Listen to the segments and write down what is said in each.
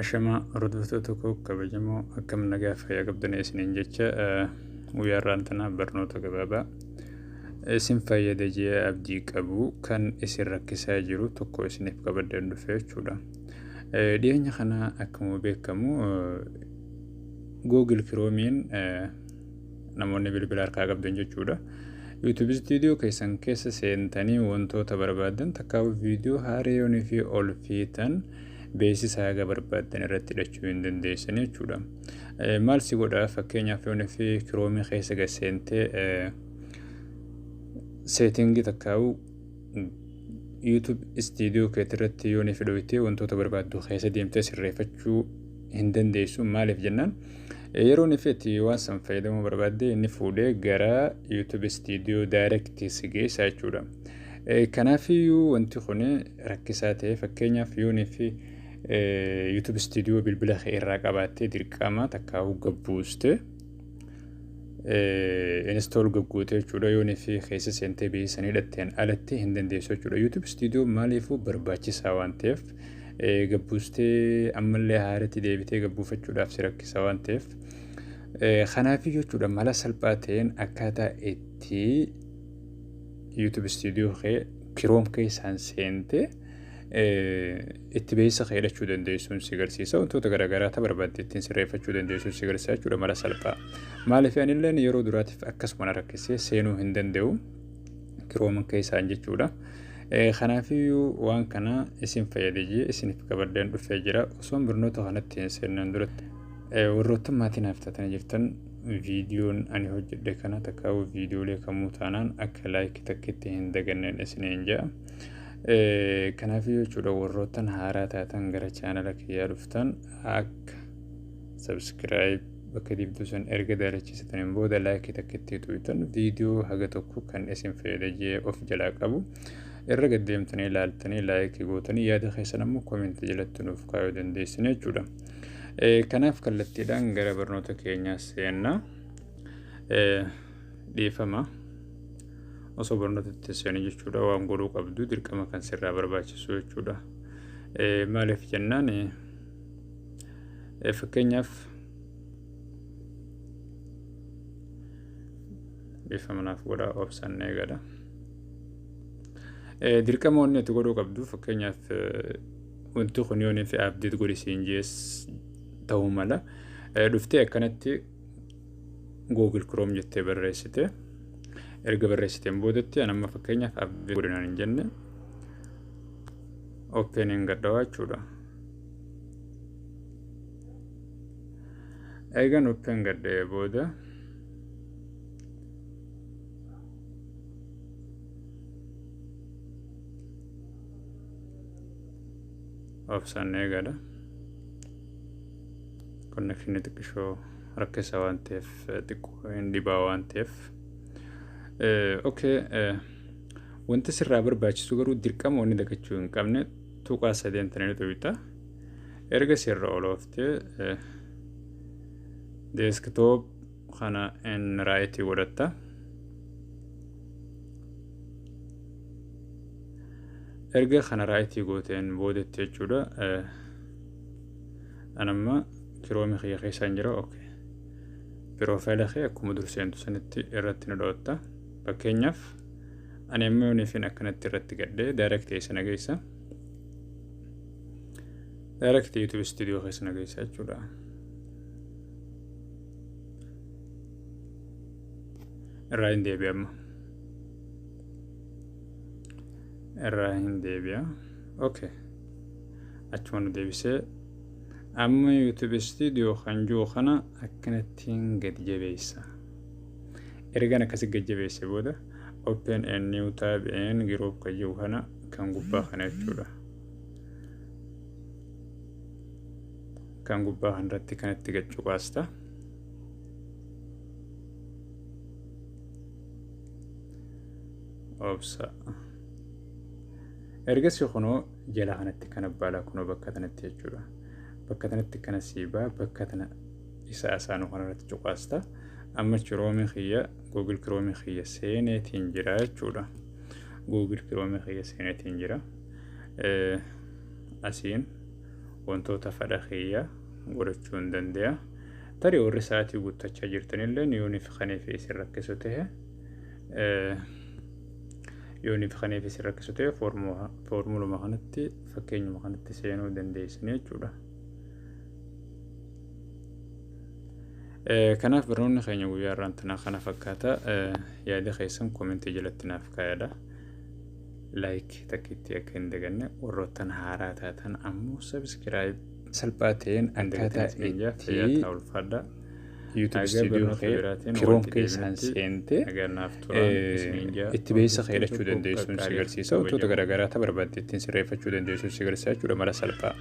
Ashamaa hordoftoota koo kabajamoo akkam nagaa fayyaa qabdanii isiniin jecha guyyaa irraan tanaa barnoota gabaabaa isin fayyada jee abdii qabu kan isin rakkisaa jiru tokko isiniif qabadeen dhufe jechuudha. Dhiyeenya kana akkuma beekamu Google Kiroomiin namoonni bilbila harkaa qabdan jechuudha. YouTube studio keessan keessa seentanii wantoota barbaadan takkaa viidiyoo haariyoon fi ol fiitan beeksisa haga barbaadan irratti hidhachuu hin dandeessan jechuudha. Maal si godha fakkeenyaaf yoon fi kiroomii keessa gad seentee seetingii takkaa'u YouTube istiidiyoo keetti irratti yoo ni fidooytee wantoota barbaaddu keessa deemtee sirreeffachuu hin dandeessu maaliif jennaan yeroo ni feeti waan san fayyadamuu barbaadde inni fuudhee gara YouTube istiidiyoo daayirektii si geessa jechuudha. Kanaafiyyuu wanti kun rakkisaa ta'e fakkeenyaaf yoo ni fi YouTube istiidiyoo bilbila kee irraa qabaattee dirqama takkaa hogga buuste. install gaggootee jechuudha yoo fi keessa seentee biyya sanii dhatteen alatti hin dandeessu jechuudha youtube studio maaliifuu barbaachisaa waan ta'eef gabbuustee ammallee haaratti deebitee gabbuufachuudhaaf si rakkisa waan ta'eef kanaaf jechuudha mala salphaa ta'een akkaataa itti youtube studio kee kiroom keessaan seentee itti beessa kee hidhachuu dandeessuun si garsiisa wantoota garaagaraa ta barbaadde ittiin sirreeffachuu dandeessuun si garsiisa jechuudha mala salphaa maaliif anillee yeroo duraatiif akkasuma na rakkisee seenuu hin danda'u kirooman keessaan jechuudha. Kanaafiyyuu waan kana isin fayyadee jee isiniif qabadeen dhufee jira osoon barnoota kanatti hin seennan duratti warroottan maatii naaf taatanii jirtan viidiyoon ani hojjedhe kana takkaawuu viidiyoolee kamuu taanaan akka laayikii takkitti hin daganneen isiniin ja'a. Kanaaf jechuudha warroottan haaraa taatan gara chaanala kiyyaa dhuftan akka subscribe bakka dibduu san erga daalachisataniin booda laayikii takka itti tuutan viidiyoo haga tokko kan isin fayyada jee of jalaa qabu irra gaddeemtanii ilaaltanii laayikii gootanii yaada keessan ammoo koomenti jalatti nuuf kaayuu dandeessin jechuudha. Kanaaf kallattiidhaan gara barnoota keenyaa seenna. Dhiifama. osoo barnoota itti seenuu jechuudha waan godhuu qabdu dirqama kan sirraa barbaachisu jechuudha. Maaliif jennaan fakkeenyaaf bifa manaaf godhaa obsaan eegadha. Dirqama wanni itti godhuu qabdu fakkeenyaaf wanti kun yoo nuuf abdeet godhi siin jees ta'uu mala. Dhuftee akkanatti Google Chrome jettee barreessite. Erga barreessiteen boodatti an amma fakkeenyaaf abdii godinaan hin jenne open hin gadhawaa jechuudha. Eegan open gadhee booda obsaan eegadha. connection xiqqishoo rakkisa waan ta'eef xiqqoo hin dhibaa waan ta'eef okay wanti sirraa barbaachisu garuu dirqama wanni dagachuu hin qabne tuqaa sadeen tananii xubita erga sirra olooftee deeskitoop kana in raayitii godhatta erga kana raayitii gooteen boodetti jechuudha an amma kiroomi kiyya keessa hin jira ok piroofaayila kee akkuma dur seentu sanitti irratti na dhootta fakkeenyaaf ani amma yooniifin akkanatti irratti gadhee daayirekti eessa na geessa daayirekti yuutuub istuudiyoo keessa na geessa jechuudha irraa hin deebi'a amma irraa hin deebi'a okay achuma nu deebisee amma youtube studio kan jiru kana akkanattiin gadi jabeessa ergan akkasi gadi jabeesse booda open a new tab and group kan jiru kana kan gubbaa kana jechuudha kan gubbaa kanarratti kanatti gad cuqaasta obsa Ergasii kunoo jala kanatti kana baala kunoo bakka tanatti jechuudha. Bakka tanatti kana siibaa bakka tana isa asaanuu kanarratti cuqaasta. Amma chiroomii kiyya Google Chrome kiyya seeneetiin jira jechuudha. Google Chrome kiyya seeneetiin jira. Asiin wantoota fadha kiyya godhachuu hin danda'a. Tarii warri sa'aatii guuttachaa jirtanillee yooniif kaniif isin rakkisu ta'e yooniif kaneef isin rakkisu ta'e foormuluma kanatti fakkeenyuma kanatti seenuu dandeessanii jechuudha. Kanaaf barnoonni keenya guyyaa irraan tanaa kana fakkaata yaada keessan koomentii jalatti naaf kaayadha. Laayik takkiitti akka hin daganne warroottan haaraa taatan ammoo sabiskiraayib salphaa ta'een akkaataa itti YouTube studio kee Chrome keessaan seentee itti beeysa kee hidhachuu dandeessuun si garsiisa wantoota garaagaraa ta barbaadde ittiin sirreeffachuu dandeessuun si garsiisa jechuudha mala salphaa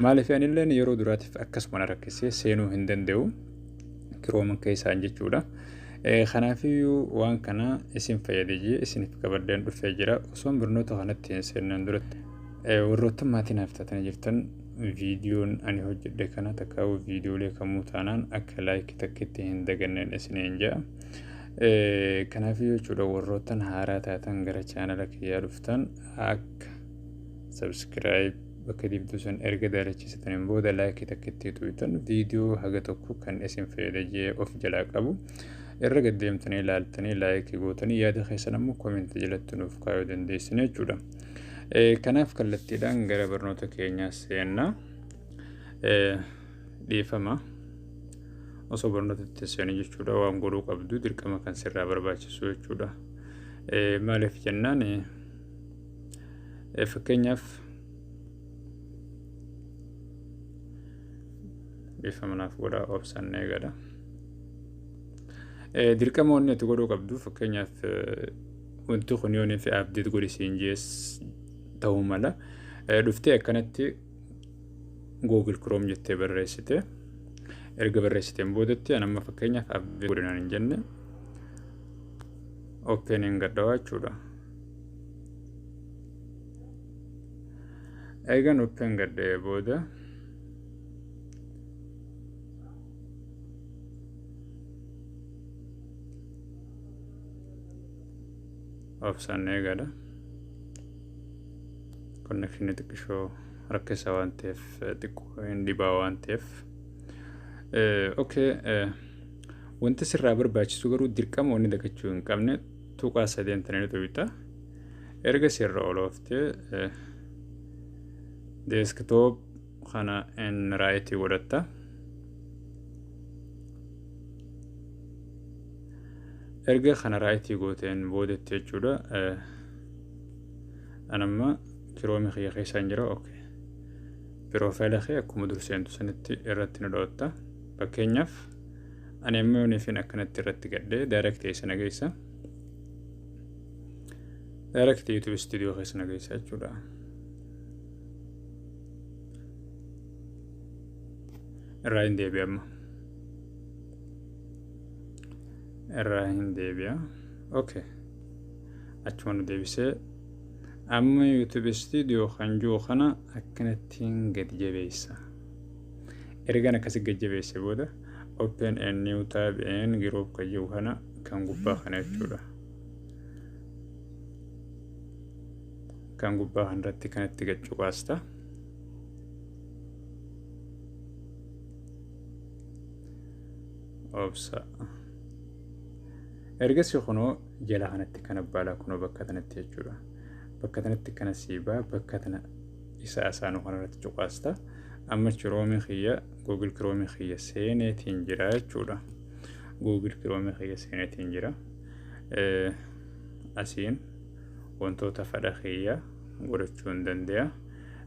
maaliif anilleen yeroo duraatiif akkasuma na rakkisee seenuu hin danda'u Chrome keessaan jechuudha. Kanaafiyyuu waan kana isin fayyade jee isiniif qabadheen dhufee jira osoon barnoota kanatti hin seennan duratti warroottan maatii naaf taatanii jirtan viidiyoon ani hojjedhe kana takka viidiyoolee kamuu taanaan akka laayikii takkitti hin daganneen isiniin ja'a. Kanaaf jechuudha warroottan haaraa taatan gara chaanala kiyyaa dhuftan akka sabskiraayib bakka dibduu san erga daalachisataniin booda laayikii takkitti tuutan viidiyoo haga tokko kan isin fayyada jee of jalaa qabu. Irra gaddeemtanii ilaaltanii laayikii gootanii yaada keessan ammoo koomenti jalatti nuuf kaayuu dandeessin jechuudha. Kanaaf kallattiidhaan gara barnoota keenyaa seenna. Dhiifama. Osoo barnoota itti seenu jechuudha waan godhuu qabdu dirqama kan sirraa barbaachisu jechuudha. Maaliif jennaan fakkeenyaaf dhiifama naaf godhaa obsaan eegadha. Dirqama wanni itti godhuu qabdu fakkeenyaaf wanti kun yoon fi abdeet godhi siin jees ta'uu mala. Dhuftee akkanatti Google Chrome jettee barreessite. Erga barreessiteen boodatti an amma fakkeenyaaf abdeet godhinaan hin jenne. Open hin gadhawaa jechuudha. Eegan open gadhee booda obsan eegadha konnekshinii xiqqishoo rakkisa waan ta'eef xiqqoo hin dhibaa waan ta'eef okay wanti sirraa barbaachisu garuu dirqama wanni dagachuu hin qabne tuqaa sadeen tananii tuqita erga sirra olooftee deeskitoop kana in raayiti godhatta erga kana raayitii gooteen boodetti jechuudha anamma kiroomi kiyya keessa hin jira ok piroofaayila kee akkuma dur seentu sanitti irratti nu dhootta fakkeenyaaf ani amma yooniifin akkanatti irratti gadhee daayirekti eessa na geessa daayirekti yuutuub istuudiyoo keessa na geessa jechuudha irraa hin deebi'a amma irraa hin deebi'a okay achuma nu deebisee amma youtube studio kan jiru kana akkanattiin gad jabeessa ergaan akkasi gad jabeesse booda open a new tab and group kan jiru kana kan gubbaa kana jechuudha kan gubbaa kanarratti kan itti gad cuqaasta. Obsa. Ergasii kunoo jala kanatti kan abbaalaa kunoo bakka kanatti jechuudha. Bakka kanatti kana siibaa bakka kana isa asaanuu kanarratti cuqaasta. Amma kiroomii kiyya googil kiroomii kiyya seeneetiin jira jechuudha. Googil kiroomii kiyya seeneetiin jira. asiin wantoota fadha kiyya godhachuu hin dandeya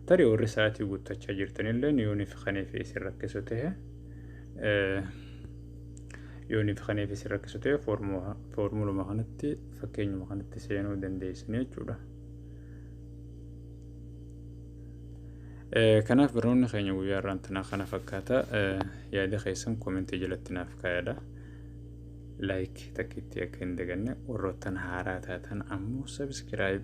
tarii warri sa'aatii guuttachaa jirtanilleen yoo nifi kaneefi isin rakkisu ta'e yoo nifi kaneefi isin rakkisu ta'e foormuluma kanatti fakkeenyuma kanatti seenuu dandeessanii jechuudha. Kanaaf barnoonni keenya guyyaa irraan tanaa kana fakkaata yaada keessan koomentii jalatti naaf kaayadha. like takkitti akka hin daganne warroottan haaraa taatan ammoo subscribe